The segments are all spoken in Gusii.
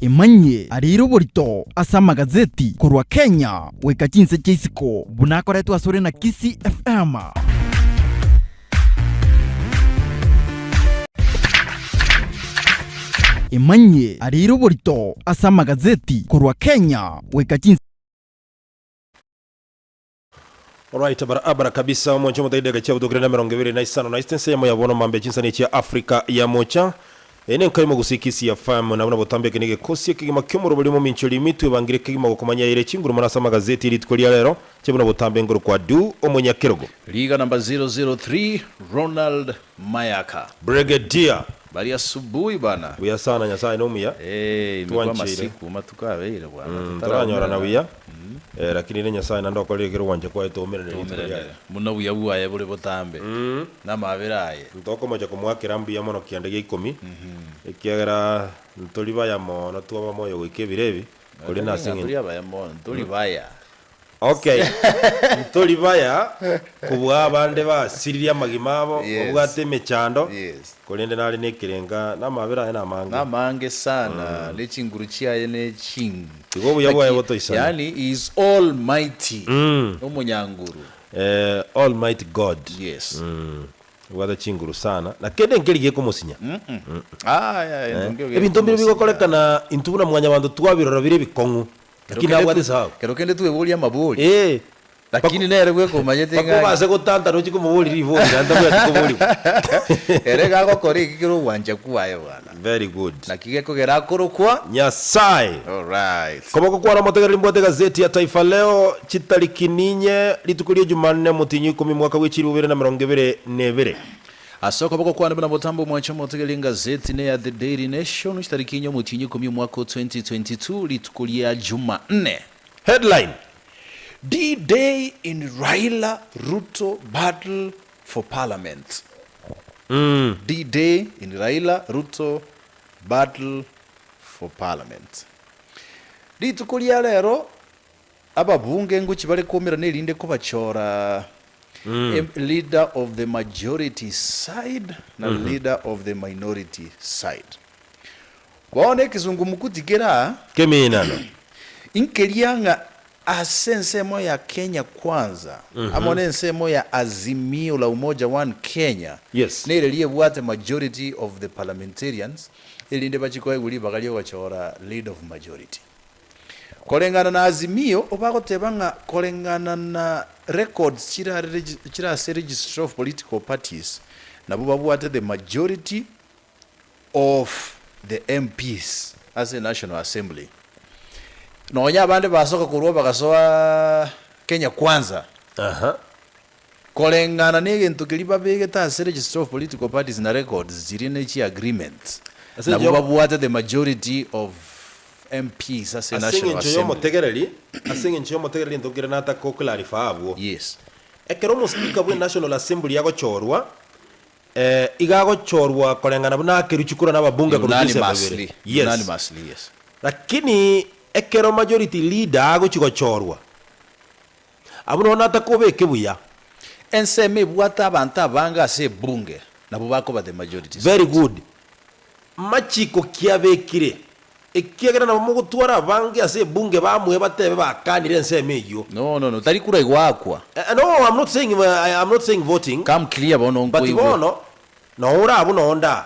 Emanyie arire oborito ase amagazeti korwa Kenya goika chinse chia isiko buna akoretwe asore na Kisii FM. Emanyie arire oborito ase amagazeti korwa Kenya goika chinse Oraite bara abara kabisa, omonche omoto edagera echia botuko kenda na emerongo ebere na isano na isatu ense yamo yabona omambia chinsani echia Africa yamocha. Eye nenka y'omogusi Kisia FM, nabuna botambe ekende gekosia ekegima ki'omorobori omominchori emitwe ebangire ekegima gokomanyaire chinguru mono ase amagazeti e rituko ria rero, chebuna botambe nkorokwa Due Omonyakerogo. Rigana mba 003 Ronald. mayaka. Brigadier. Bari asubuhi bana. Buya sana nyasaye nomuya. Eeh ime kwa Twancheire. masiku matuko abeire bwana Mm toranyorana totaraumerana. buya Mm. eh, lakini ere nyasaye naende okorire ekero gwancha kwaye toumerane rituko riaye. Toumeranere buna obuya bwaye bore botambe Mm. namabera aye. Ntokomocha komwakera mbuya mono kianda gia ikomi, Mhm. ekiagera ntori baya mono twaba moyo goika ebiro ebi, korende Naende ase ng'a ng'encho. tori abaya mono, ntori baya. Ok, ntori baya kobua abande basiririe amagima abo, babwate emechando, korende nare nekerenka, na amabera aye namange. Namange sana, ne chinguru chiaye ne chingi. Igo obuya bwaye botoisana. Yaani he is all mighty, nomonyanguru. Eh, all mighty God. Yes. Obwate chinguru sana, na kende nkeri gekomosinya. Aah, ebinto mbire bigokorekana, intwe buna mwanyabanto twabirora bire ebikong'u, Lakini nabwate esababu. Ekero kende tweborie amabori. Ee. Lakini nere bweka omanyete Baka ng'ai. obase gotantana ochie komoboria ribori naende tabwati koborigwa. Ere iga agokora eki kere ogwancha kwaye bwana. Very good. Naki gekogera akorokwa. Nyasae. Alright. Koboko kwane omotegereri mbwate egazeti ya Taifa Leo chitariki ninye, rituko ria Jumanne, Omotienyi o ikomi, mwaka bwe chilifu bibere na emerongo ebere na ebere. Ase okoboko kwane buna botambe omwancha omotegereria engazeti ne ya The Daily Nation chitariki enye omotienyi ikomi omwaka o 2022 rituko ria Jumanne. Headline, D-Day in Raila Ruto battle for parliament D-Day in Raila Ruto battle for parliament Rituko ria rero Ababunge ngochia bare koumerana erinde kobachora em, leader of the majority side na leader of the minority side. Bono ekesungumukuti kere aa, Keminano. inkeria ng'a ase ensemo ya Kenya Kwanza amo na ensemo ya Azimio la Umoja One Kenya Yes. nereria ebwate majority of the parliamentarians erinde bachie koegwa ribaga ri'ogachora lead of majority. Koreng'ana na Azimio, obagoteba ng'a koreng'ana na records chire ase Registry of Political Parties, nabwo babwate the majority of the MPs ase National Assembly. Nonya abande basoka korwa bagasoa Kenya Kwanza. Koreng'ana negento keria babegete ase Registry of Political Parties na records chiria ne chi agreements, Ase enchera nabwo y'omo. babwate the majority of MPs ase Ase National eng'encho Assembly. y'omotegereri, ase eng'encho y'omotegereri gento keria nataka go clarify abwo. Yes. Ekero omo speaker bwe National Assembly agochorwa, eh, iga agochorwa koreng'ana buna akeruchi korwa naba bunge korusia ase ababere. Unanimously, Yes. unanimously, yes. Lakini ekero majority leader agochi gochorwa, Abwo nonya natakobeke buya. Ensemo ebwate abanto abange ase ebunge nabwo bakoba the majority Very side. good. Machiko ki abekire? Ekiagera nabo mogotwara abange ase ebunge bamue batebe bakanire ensemo eyio. No no no tari kura igo akwa. Eh no I'm not saying I am not saying voting Come clear bono but nkoigwe. bono nonya ore abwo nonya onde aa.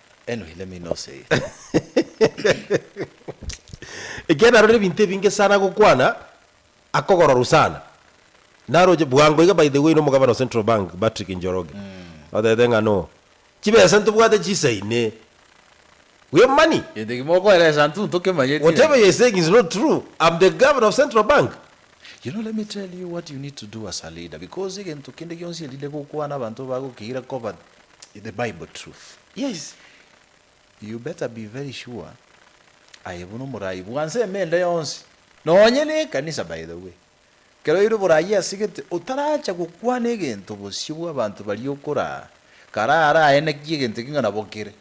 Enohire mi noseye. Ekiagera narorire ebinto ebinge sana gokwana akogororwa sana naroche bwango iga by the way nomogabana o Central Bank Patrick Njoroge otebete ng'a no chibesa ntobwate chisaine we have money Gento ekimo okoeresa ntu ntokemanyeti whatever iga. you are saying is not true I'm the governor of Central Bank You know let me tell you what you need to do as a leader because egento kende gionsi erinde gokwana abanto bagokiira koba Is the bible truth? Yes you better be very sure aye buna omoraai bwanse emende yonsi nonye ne ekanisa by the way kero ire oboraai ase gete otaracha gokwana egento bosio bwa abanto baria okoraa karaa ara aye naki egento eki ng'a nabo kere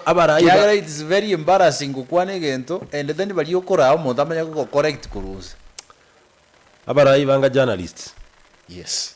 abaraai ba kiagera it's very embarrassing gokwana egento and then baria okoraa omonto amanye gogo correct korwa onse. Abaraai banga journalists. Yes.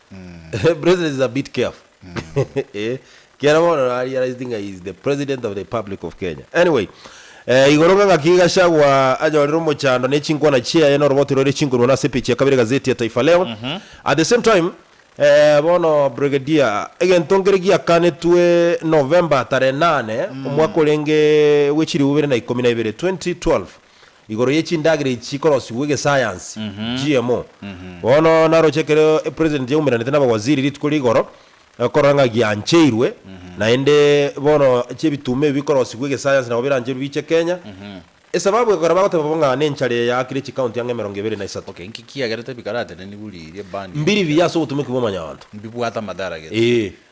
The president is a bit careful eh kiara bono na realized ng'a he is the president of the republic of Kenya anyway eh igoro ng'a ng'aki Gachagua anyorire omochando ne chinkwana chiaye na oroboti roire chinkorwa na ase epeji ya kabere egazeti ya Taifa Leo at the same time eh bono Brigadier egento nkere giakanetwe November tarehe nane omwaka orenge bwe chilifu bibere na ikomi na ibere 2012 Igoro ye chindagera echi chikorosigwa egesayansi, GMO. Bono naroche ekero President yaumeranete nabawaziri rituko rigoro korora ng'a giancheirwe, naende bono chebituuma ebi bikorosigwa egesayansi nabo birancherwe biche Kenya. Esababu ekogera bagoteba bo ng'a nenchara eye yaakire chicounty ang'e emerongo ebere na isato. Okay, nki kiagera tebikaratenenigwe riria band Mbiri biya ase obotumeki bw'omonyaanto. Mbibwate amadara gete. Ee.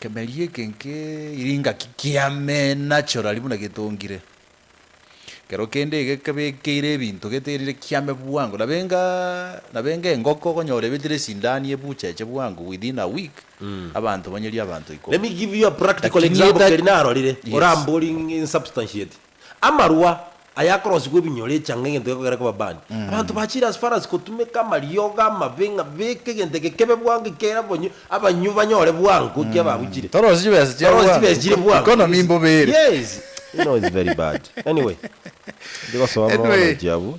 Ekemeria eke nkeiri ngaki kiamena chorari buna getongire. Ekero kende iga ekebekeire ebinto geterire kiame bwango. Nabenga nabenga engoko okonyora ebetire esindani ebucha eche bwango within a week abanto banyerie abanto Let ikomi. me give you a practical Lakini example etae keri narorire, Yes. orambori ng'e insubstantiate. Amarwa aya akorosigwa ebinyoro echanga egento gekogera koba band. Abanto bachire as far as kotumeka amariogo amabe ng'a beka egento eke kebe bwango ekiagera bonye abanywi banyore bwango ekiagera babuchire. Torosie chibesa chia Torosie bwango. chibesa chire Eco- bwango. economy Yes. mbobere. Yes. You know it's very bad. Anyway. Ndigosoa Anyway. amaonechi abwo.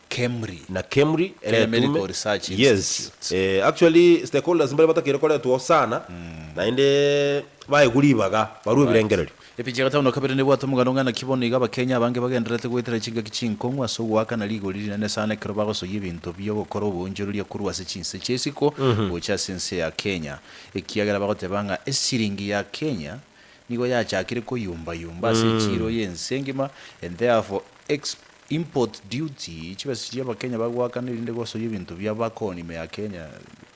Kemri. Na Kemri Kenya eretume Medical Research yes Institute. eh, actually stakeholders mbare batakeire koretwo sana naende baegwa ribaga barue Right. ebirengererio. Epicha ya gatano na kabere nebwate omoganda ong'ana ki bono iga Abakenya abange bagendererete goetera chingaki chinkong'u ase ogoaka na rigori rinene sana ekero bagosoyia ebinto bi'ogokora oboonchoreria korwa ase chinse chia isiko gocha ase ense ya Kenya ekiagera bagoteba ng'a esiringi ya Kenya nigo yachakire koyumba-yumba ase echiiro y'ense engima and therefore exp Import duty chibesa chiria abakenya bagoakana erinde gosoyia ebinto bia bakoni ime ya Kenya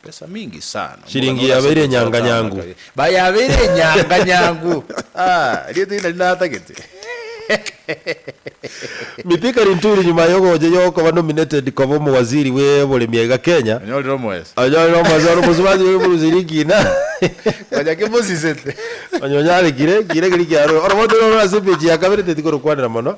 besa mingi sana omogani Shilingi ore ase yabeire egochora enyanga taama nyangu. kare ba yabeire enyanga nyangu aah erieta eri nari natagete. Mithika Linturi nyuma yogocha yokoba nominated koba omowaziri bwe boremi aiga Kenya, Onyorire omoeso. onyorire omoeso ore omosubati bwe eburusi rikina. Konya ki mosisete. Onye onyarekire, kire keri kiarure. Oromote rore ase page ya kabere teti korokwanera mono.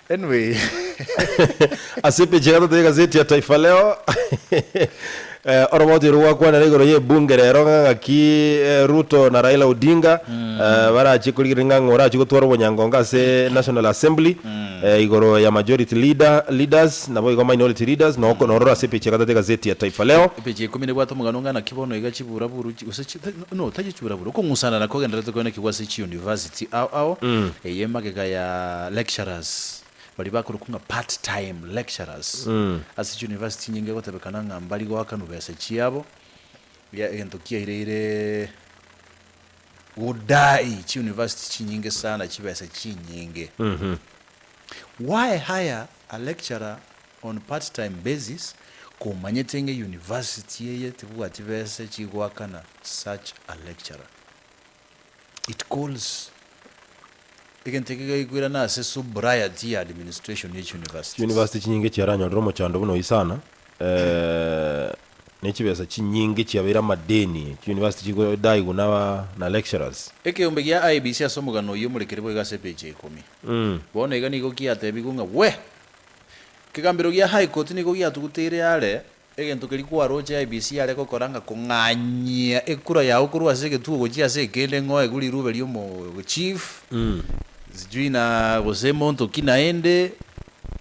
Anyway. Ase epeji ya gatatu y'egazeti ya Taifa Leo, oroboti oro gwakwanire igoro y'ebunge rero ng'a ng'aki Ruto na Raila Odinga barachie korigereria ng'a ng'o orachie gotwara obonyangonga ase National Assembly igoro ya majority leader, leaders, naboigo minority leaders, noko nororo ase epeji ya gatatu y'egazeti ya Taifa Leo. Epeji ya ikomi nebwate omogano ng'a naki bono iga chibura-buru gose chi. Buna otachichura buru okong'usana na kogendererete koenekigwa ase chiuniversity ao ao, eye emagega ya lecturers baria bakorokwa ng'a part time lecturers ase chiuniversity nyinge egotebekana ng'a mbari goakanwa besa chiabo ya egento kiaireire godai chiuniversity chinyinge sana chibesa chinyinge. Why hire a lecturer on part time basis, komanyete ng'a university eye tebwati besa chigoakana such a lecturer. It calls egento eke gekoirana ase sobriety ya administration ye chiuniversities. Chiuniversity chinyinge chiaranyorire omochando buna oyio sana ne chibesa chinyinge chiabeire amadeni, chiuniversity chigodaigwa na lecturers. Ekeombe gia IEBC ase omogano oyio omorekeri boigo ase epeji ya ikomi. Bono iga nigo kiatebigwe ng'a we! Kegambero gia High Court nigo giatuguteire are egento keria kwaroche IEBC yare gokora ng'a kong'anyia ekura yao korwa ase egetugo gochia ase ekende ng'o egure irube riomo chief sijui na gose monto ki naende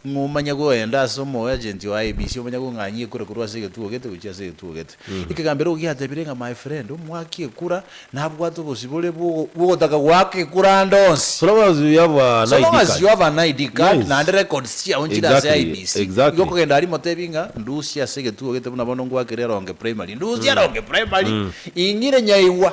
ng'o omanye goenda ase omo agent o IEBC omanye kong'anyia ekura korwa ase egetugo gete gochia ase egetugo gete. Ekegambero oko giatabire ng'a my friend omwaki ekura nabwate obosibore bw'ogotaka goaka ekura ande onsi. So long as you have an So long ID as you card. have an ID card Yes. naende records chiao nchire ase Exactly, IEBC, igo exactly. okogenda aria imotebie ng'a ndusie ase egetugo gete buna bono ngwakire Ronge Primary. Ndusie Ronge Primary? Ing'ire nyaigwa.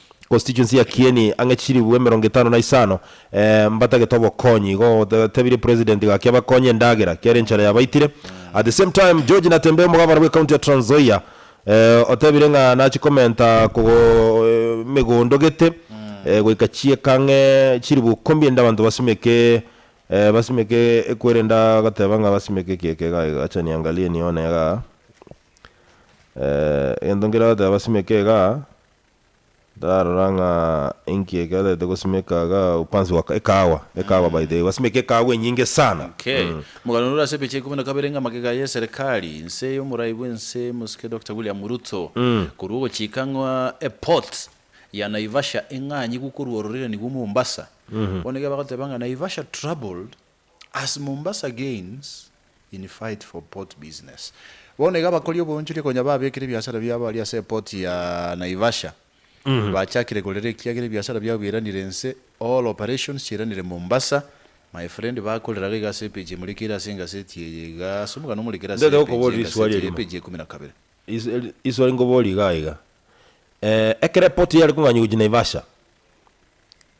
Constituency ya Kieni ang'e chilifu emerongo etano na isano eh, mbatagete obokonyi igo gotebirie president gaki abakonye endagera kiare enchara yabaitire at the same time George Natembeya omogabana bwe county ya Trans Nzoia eh, otebire ng'a nachi komenta kogo emegondo gete eh, goika chieka ang'e chilifu ikombi ende abanto basimeke eh, basimeke ekwerenda agateba ng'a basimeke eki eke iga iga acha niangalie nione igaa eh, egento nkere agateba basimeke igaa. Ndarora ng'a enki ekerete gosimeka iga upanzi wa ekahawa, ekahawa by the way, gwasimeka ekahawa enyinge sana. Okay. Omogano rore ase ebiacha ikomi na kabere ng'a magega ya eserekari nse y'omorai bw'ense Mosike Dokita William Ruto korwa ogochika ng'a eport ya Naivasha eng'anyi gokorwa ororerani gwo Mombasa. Bono iga bagoteba ng'a Naivasha troubled. As Mombasa gains in fight for port business, bono iga abakori oboonchoria konya babekire ebiasara biabo aria ase eport ya Naivasha bachakire korera ekiagera ebiasara biabo biiranire inse, all operations chiiranire Mombasa. My friend bakoreraga iga ase epage emorekeire ase engaseti eye iga ase omogano omorekere ase Ndataka epage kokuboria eriswali y'engaseti eye, erimo. epage ya ikomi na kabere. Riswali nkoborie igaa iga, ekero eport yare kong'anywa gochia Naivasha,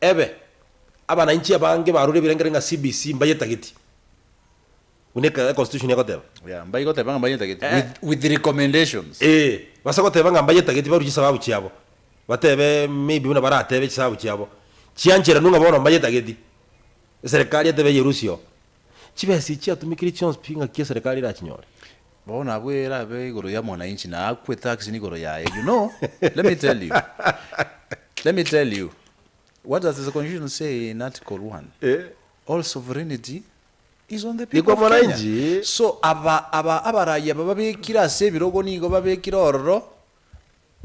Ebe, abanainchi abange barure ebirengererio ng'a CBC mbayetageti, buna ekero econstitution egoteba. Yeah, mbaigoteba ng'a mbayetageti Eh. with, with recommendations. Ee, base goteba ng'a mbayetageti barue chisababu chiabo, batebe maybe buna baratebe chisababu chiabo chiancheranu ng'a bono mbayetageti, eserekari etebe eyerusie oo. Chibesa echi chiatumekire chionsi pi ng'aki eserekari erachinyore? Bono abwo erabe igoro ya mwananchi na akwe tax nigoro yaye you know let me tell you let me tell you what does the constitution say in article one all sovereignty is on the people of kenya so aba aba abaraia bababekire ase ebirogo nigo babekire ororo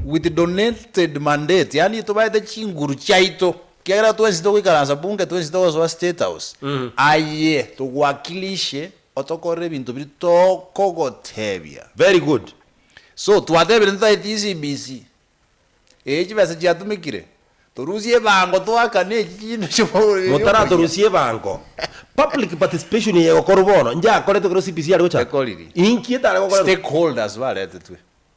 with donated mandate, yaani tobaete chinguru chiaito, ekiagera twensi togoikaransa Bunge, twensi togosoa State House, aye togwakilishe otokorere ebinto biria tokogotebia. Very good. So twatebire totaeti ECBC, eyi chibesa chiatumekire, torusie ebango toakane echi chinde chi'omorero ya omoyia. Motaratorusie ebango. Public participation eye egokorwa bono, inche akoretwe ekero CBC are gochakwa? Ekoriri. Inki etare gokorerwa? Stakeholders baretetwe.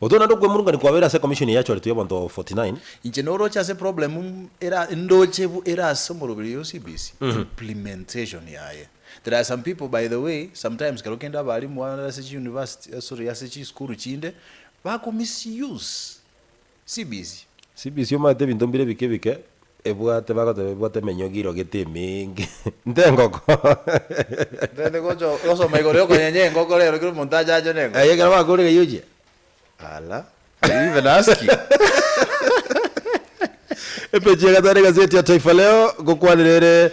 Otoe naende okwemurungania kwabeire ase ekomishoni eye yachoretwe y'abanto 49. Inche noroche ase problem era ndoche bu era ase omoroberi oyo CBC implementation yaye. There are some people by the way sometimes kero kende abalimu ase chi university sorry ase chi school chinde bako misuse CBC. CBC omanyete ebinto mbire ebike ebike Ebwate, bagoteba ebwate emenyogi irogete emenge, ntengokora. Tari gocha gosoma igoro yokonyenya engoko rero kera omonto ache ache ne engoko. Aye ekero bakore ng'ai ochia? Ala, are you even asking? Epeji ya gatano egazeti ya Taifa Leo, gokwanire ere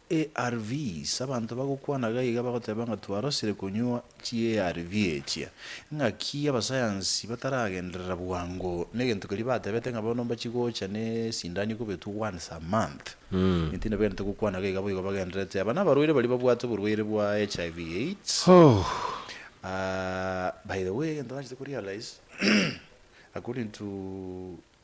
ARVs, Abanto bagokwana iga iga bagoteba ng'a twarosire konywa chiARV echia. Ng'aki abasayansi bataragenderera bwango negento keria batebete ng'a bono mbachi gocha nesindani ekobetwe once a month. Ime tindabagenderete gokwana iga iga boigo bagendererete aba nabarwaire baria babwate oborwaire bwa HIV AIDS. By the way egento tachete korealize according to.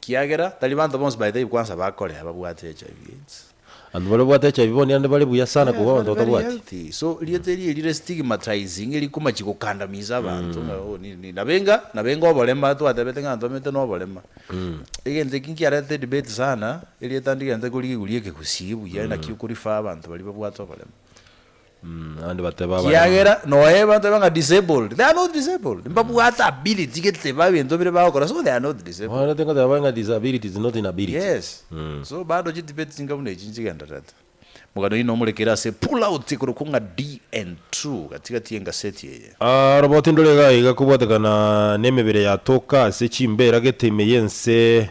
Kiagera tari banto bonsi baetaibi kwansa bakore ababwate HIV aids. Abanto baria babwate HIV bono nigo bare buya sana kobua abanto Very batabwati. healthy. So rieta erio rire stigmatizing eri komachi gokandamiza abanto ng'a oh nini nini. Nabo enga nabo enga oborema twatebete ng'a antomete na oborema. Egento ekio nkiarete edebate sana erieta ndigente korigereria ekegusii buya naki okorefer abanto baria babwate oborema. Abande bateba abarema. Kiagera noe abanto baiba ng'a disabled, they are not disabled. Mbabwate ability gete babe ebinto bire bagokora, so they are not disabled. Mwarorete ngoteba bare ng'a disability is not inability. Yes. So bado chidebate ching'abu ne echi nchigendererete. Omogani oyio nomorekere ase pull out ekorokwa ng'a DN True gati gati y'engaseti eye. Robo tindore iga iga kobwatekana nemebere yatoka ase chimbeera gete ime y'ense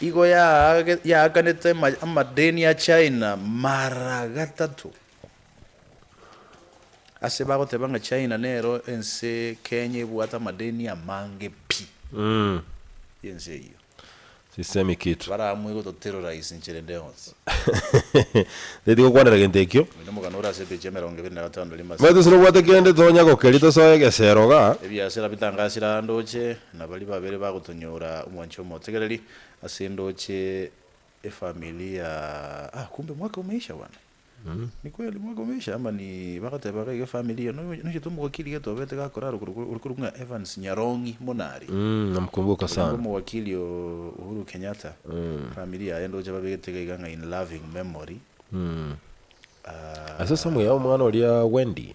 Igo yaakanete amadeni a China mara gatato. Ase bagoteba ng'a China nero ense Kenya ebwate amadeni amange pi y'ense eyio. Sisemi kitu. Baraamue gototero rais nchere nde onsi. Teti gokwanera gento ekio. Oino omogano ore ase epeji ya emerongo ebere na gatano rimo ase. Mbae tose nobwate kende tonya gokeria tosoe egesero iga. Ebiasera bitangasire aa ndoche. na baria babere bagotonyora omwancha omotegereri ase endooche efamilia ah kumbe mwaka omeisha bwana Ni kweli mwaka omeisha ama ni bagoteba iga iga efamili eye no- nochete omogokiri gete obete gakorara okoro okoro ore korwa ng'a Evans Nyarongi Monari Mm, namkumbuka Oyo nigo sana. omogokiri o Uhuru Kenyatta efamili yaye ndoche babegete iga iga ng'a in loving memory Mm. Ah, Ase esamu yao omwana oria Wendy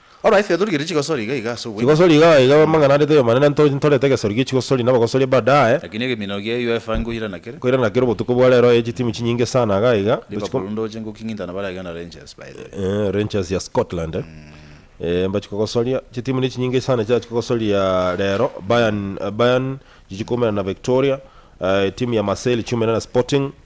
Oro aye Fethur gere chigosori iga iga ase obwenyene. Chigosori iga iga bwe amang'ana arete ay'omanene nto ntorete egesori gie chigosori na abagosori badae. Lakini egeminao gia UEFA nkoirana kere. Nkoirana kere obotuko bwa rero aye chitimu chinyinge sana iga iga. Liverpool ndoche ngoking'intana bare iga na Rangers by the way. Eeh Rangers ya Scotland eh. Eeh mbachi kogosoria chitimu ne chinyinge sana chiachi kogosoria rero Bayern Bayern chichi koumera na Victoria eeh timu ya Marseille chiumera na Sporting.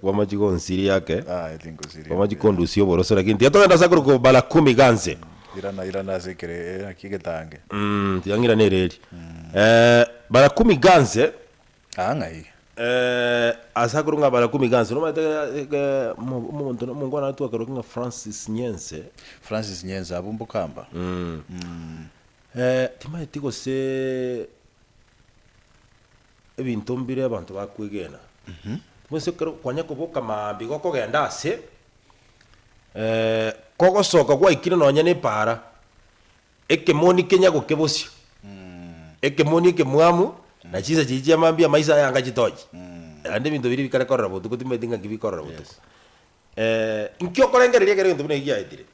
Kwamachi gonsiria ake, Ah, eti nkosiria. kwamachi kondusia oboroso, lakini tiyatogenda ase akorokwa obara kumi ganse. Irana irana ase ekere eh, naki egetange. Mm, tiyang'ira nere eri. Eh, bara kumi ganse, Ah, ng'ai. eh, ase akorokwa ng'a bara kumi ganse, nomanyete eh, eh, mo- omonto na- omongwana aria twakarokia ng'a Francis Nyense, Francis Nyenza abwo mbokamba. eh, timanyeti gose Ebinto mbire abanto bakwegena, bonsi ekero kwanya koboka mambia igo okogenda ase kogosoka gwaikire nonya ne epaara, ekemoni kenya gokebosia, ekemoni ekemwamu na chinsa chiria chia mambia amaiso aya anga chitochi, naende ebinto biria bikare korora botuko timanyeti ng'aki bikorora botuko. Inki okorengereria ekero egento buna eki giaetire?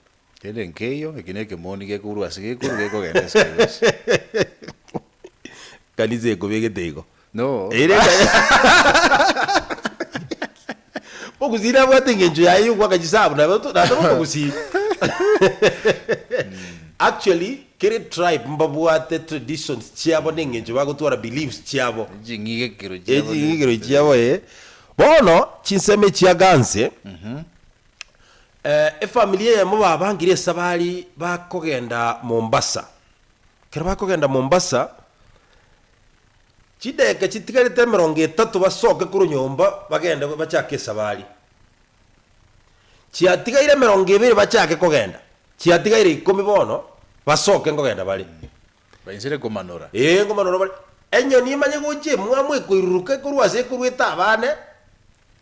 Kende nkeiyo, eki nekemoni gekourwa ase gekoru gekogenda ase kegosi. Kanisa ekobegete igo. No. Ere Mogusii nabwate engencho yaye yogoaka chisabu na bato na atoba omogusii. Actually kere tribe mbabwate traditions chiabo na engencho bagotwara beliefs chiabo. Ching'igekero chiabo Eching'igekero chiabo ee. Bono chinsemo echia Ganze Efamiri eyemo babangire esabari bakogenda Mombasa. Ekero bakogenda Mombasa, chidegeka chitigarete emerongo etato basoke korwa nyomba bagende bachake esabari. Chiatigaire emerongo ebere bachake kogenda, chiatigaire ikomi bono basoke nkogenda bare. Bainchire komanora. Ee, nkomanora bare. Enyoni emanye gochia emwamu ekoiruruka ekorwa ase ekorwa etaba aane,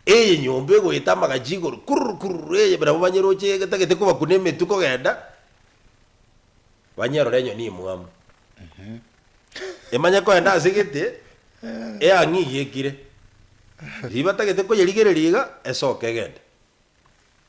eye nyomba egoeta amagachi igoro kurr kurr eye nabo banye roche getagete kobakuna emetwe kogenda banyerore enyoni emwamu. Emanye kogenda ase gete eang'e iga ekire. Ribatagete koyerigereria iga esoke egende.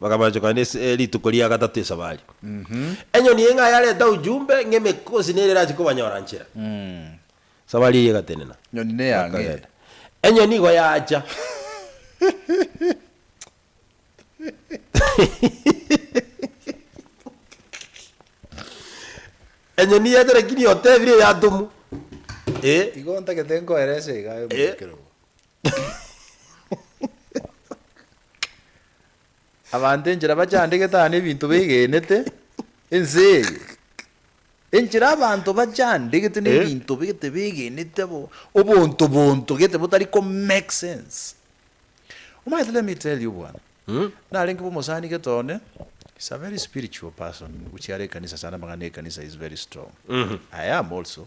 Bakamanchokana ase rituko ria gatato esabari. Enyoni eng'ai yareta ujumbe ng'emekosi nere erache kobanyora nchera. Esabari eyio egatenena. Nyoni ne yang'e. Bakagenda. Enyoni igo yacha. Enyoni yacha lakini otebire eyatomu. Igo ntagete nkoerese iga aye omorikere obo. Abanto enchera bachandegete aa nebinto begenete ense eye. Enchera abanto bachandegete nebinto gete begenete bo obonto bonto gete botari ko make sense. Omanyete let me tell you bwana. Narenge bo omosani gete one is a very spiritual person. Gochia are ekanisa sana amang'ana ekanisa is very strong. I am also.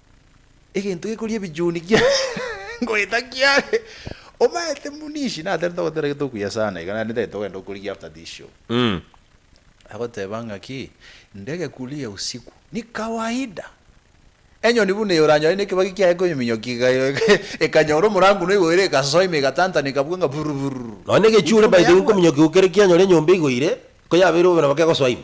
egento gekoria ebichuni kia ngoeta kiare omaete buna ici natari togotera gete okuya sana iga naende ntagete ogenda okorigia after this show agoteba ngaki ndege kuria usiku ni kawaida enyoni buna eye oranyore ne kebagi kiaye komiminyokia iga iga iga ekanyora omorango na oigoire egasoa ime egatantaneka buga nga bururururu. Nonya na egechuure by the way nkominyokiwa kere kianyora enyomba eigoire, koyabeire bobe nabo kegosoa ime.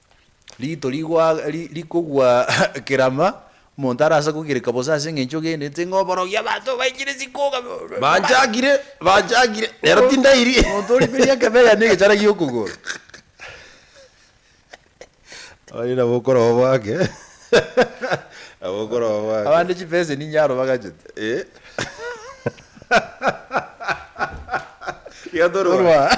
Riito rigwa ri rikogwa kerama, omonto arase kogireka bosa ase engencho ogenderete ng'a oborogi abanto baikire chikoga Banchakire, banchakire, nero tindairie. Omonto oriberia ekebeya na egechara gi'okogoro. Abande nabo okoroo gwake, nabo okoroo gwake. Abande chibesa eninyaro bagachete. Eh. Iga torwa. Torwa.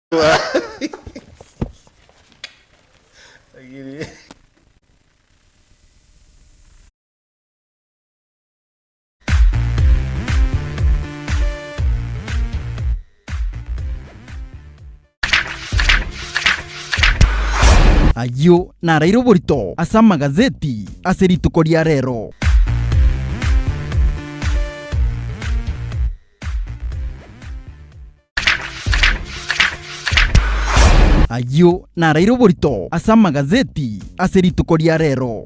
Ayio naraire oborito ase amagazeti ase rituko ria rero. Ayio naraire oborito ase amagazeti ase rituko ria rero.